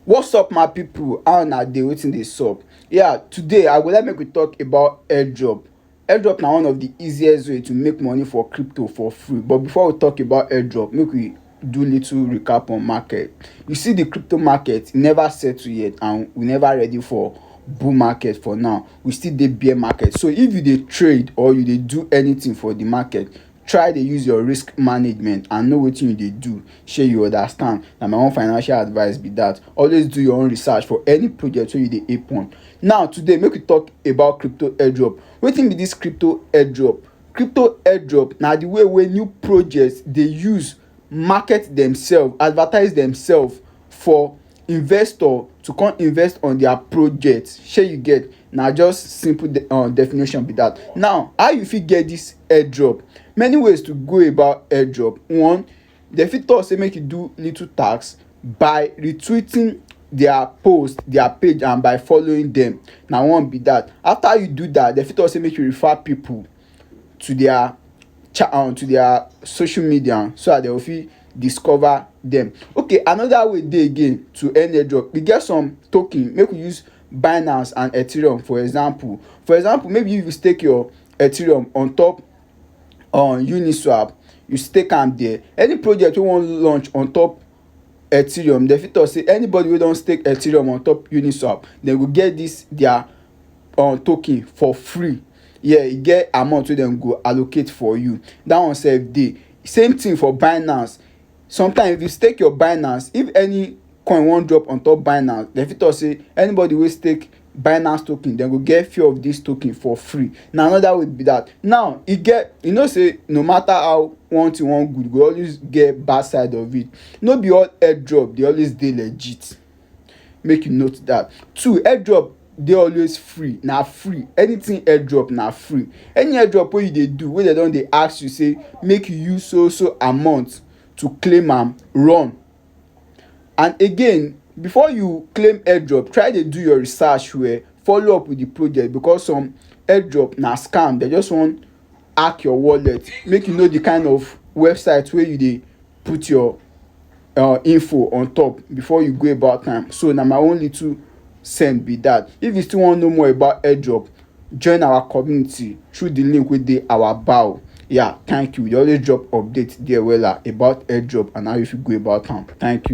What's up my people how una dey wetin dey sup yeah today I go like make we talk about airdrop airdrop na one of the easiest way to make money for crypto for free but before we talk about airdrop make we do little recap on market you see the crypto market e never settle yet and we never ready for bull market for now we still dey bear market so if you dey trade or you dey do anything for the market try dey use your risk management and know wetin you dey do shey you understand na my own financial advice be that always do your own research for any project wey you dey ape on now today make we talk about crypto airdrop wetin be this crypto airdrop crypto airdrop na the way wey new project dey use market demself advertise demself for investor to come invest on their project shey you get na just simple definition be that now how you fit get this airdrop many ways to go about airdrop one dem fit talk say make you do little task by retweeting their post their page and by following them na one be that after you do that dem fit talk say make you refer people. to their chat on um, to their social media so that they will fit discover them okay another way dey again to earn airdrop we get some token make we use binance and ethereum for example for example maybe you stake your ethereum on top on um, uniswap you stake am there any project wey wan launch on top ethereum dem fit talk say anybody wey don stake ethereum on top uniswap dem go get this their um token for free yeah e get amount wey dem go allocate for you that one sef dey same thing for Binance sometimes if you stake your Binance if any coin wan drop on top Binance dem fit talk say anybody wey stake Binance token dem go get few of this token for free na another way be that now e get you know say no matter how one thing wan good e go always get bad side of it no be all airdrop dey always dey legit. make you note that two airdrop dey always free na free anything airdrop na free any airdrop wey you dey do wey dem don dey ask you say make you use so so amount to claim am run and again before you claim airdrop try dey do your research well follow up with the project because some airdrop na scam dem just wan hack your wallet make you know the kind of website wey you dey put your uh, info on top before you go about am so na my own little send be that if you still wan know more about airdrop join our community through the link wey dey our bio yeah thank you we dey always drop update there wella about airdrop and how you fit go about am thank you.